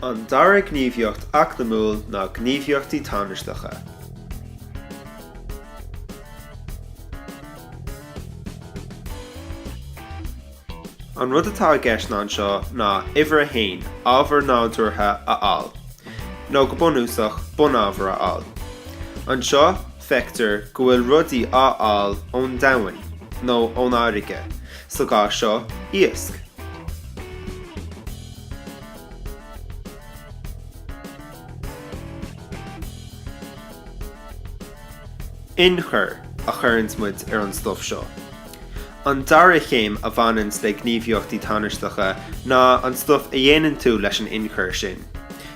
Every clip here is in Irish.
An dara gníomhaíocht eacnamúil ná gníomhaíochtaí tánaisteacha. An rud atá i gceist ná anseo ná uimhir a haon, ábhar nádúrtha a fháil, nó go bunúsach, bunábhar a fháil. Anseo, feictear go bhfuil rudaí á fháil ón domhain, nó ón fharraige, Sa gcás seo, iasc. Inchur a chuireanns muid ar an stuif seo. An dara céim a bhaineanns le gníomhaíochtaí tánaisteacha ná an stuif a dhéanann tú leis an inchur sin.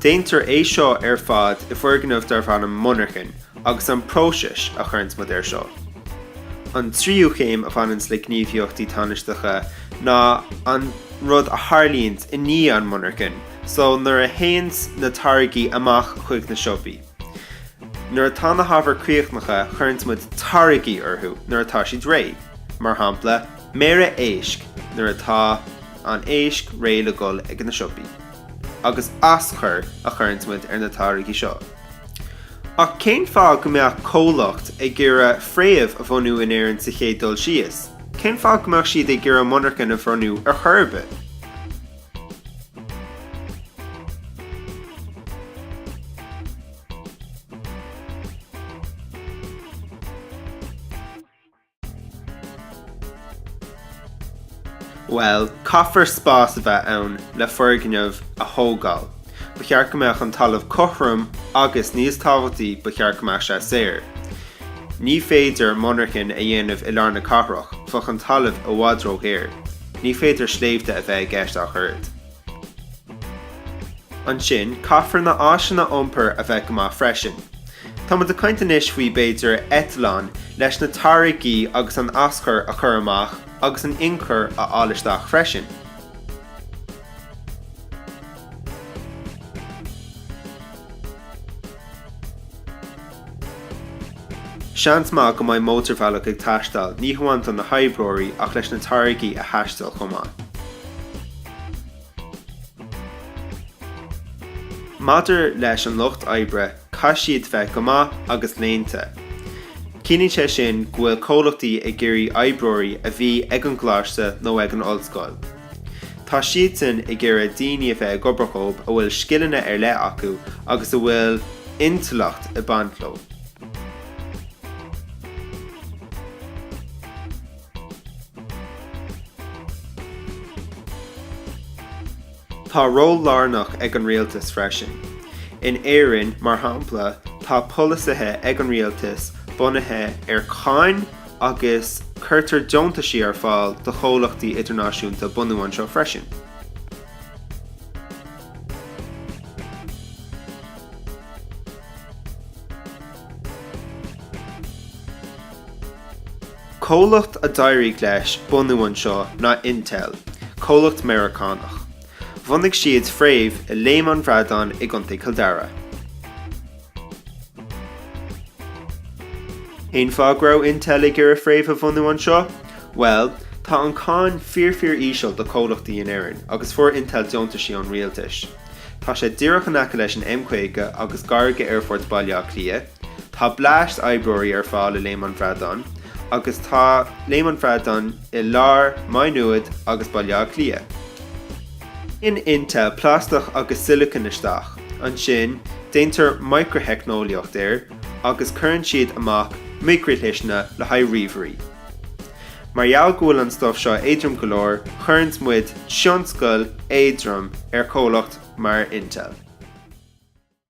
Déantar é seo ar fad i bhfoirgneamh darb ainm monarchan agus an próiseas a chuireanns muid ar seo. An tríú chéim a bhaineanns le gníomhaíochtaí tánaisteacha ná an rud a tharlaíonns i ndiaidh an mhonarchain, so nuair a théanns na táirgí amach chuig na siopaí. Nuair atá na hábhair críochnaithe, cuireanns muid táirgí orthu nuair atá siad réidh, mar shampla méara éisc nuair atá an éisc réidh le dhul ag na siopaí. agus aschur a chuireanns muid ar na táirgí seo. Ach cén fáth go mbeadh comhlacht ag iarraidh fréamh a bhunú in Éirinn sa chéad dul síos? Cén fáth go mbeadh siad ag iarraidh monarchan a bhunú ar chor ar bith? Bhuel, caithfear spás a bheith ann le foirgneamh a thógáil. Ba cheart go mbeadh an talamh cothrom agus, níos tábhachtaí, ba cheart go mbeadh sé saor. Ní féidir monarchan a dhéanamh i lár na cathrach, bheadh an talamh i bhfad ródhaor. Ní féidir sléibhte a bheith i gceist ach oiread. Ansin, caithfear na áiseanna iompair a bheith go maith freisin. Tá muid ag caint anois faoi, b'fhéidir, eitleán, leis na táirgí agus an aschur a chur amach agus an inchur a fháil isteach freisin. Seans maith go mbeidh mótarbhealach ag teastáil, ní hamháin do na hoibreoirí ach leis na táirgí a thaisteal chomh maith. Maidir leis an lucht oibre, caithfidh siad bheith go maith agus léannta. Ciallaíonn sé sin go bhfuil comhlachtaí ag iarraidh oibreoirí a bhí ag an gcoláiste nó ag an ollscoil. Tá siadsan ag iarraidh daoine a bheith ag obair dhóibh a bhfuil scileanna ar leith acu agus a bhfuil intleacht ag baint leo. Tá ról lárnach ag an rialtas freisin. In Éirinn, mar shampla, tá polasaithe ag an rialtas bunaithe ar cháin, agus cuirtear deontaisí ar fáil do chomhlachtaí idirnáisiúnta bunú anseo freisin. Comhlacht a d'éirigh leis bunú anseo ná Intel, comhlacht Meiriceánach. Bhunaigh siad fréamh i Léim an Bhradáin i gContae Chill Dara. Cén fáth go raibh Intel ag iarraidh fréamh a bhunú anseo? Bhuel, tá an cáin fíorfíor-íseal do chomhlachtaí in Éirinn agus fuair Intel deontaisí ón rialtais. Tá sé díreach in aice leis an M50 agus gar go Aerfort Bhaile Átha Cliath, tá blast oibreoirí ar fáil i Léim an Bhradáin agus tá Léim an Bhradáin i lár Maigh Nuad agus Baile Átha Cliath. In Intel plastach agus sileacan isteach. Ansin, déantar micriteicneolaíocht air agus cuireann siad amach micrishliseanna le haghaidh ríomhairí. Mar gheall go bhfuil an stuff seo éadrom go leor, cuireanns muid tionscal éadrom ar chomhlacht mar Intel.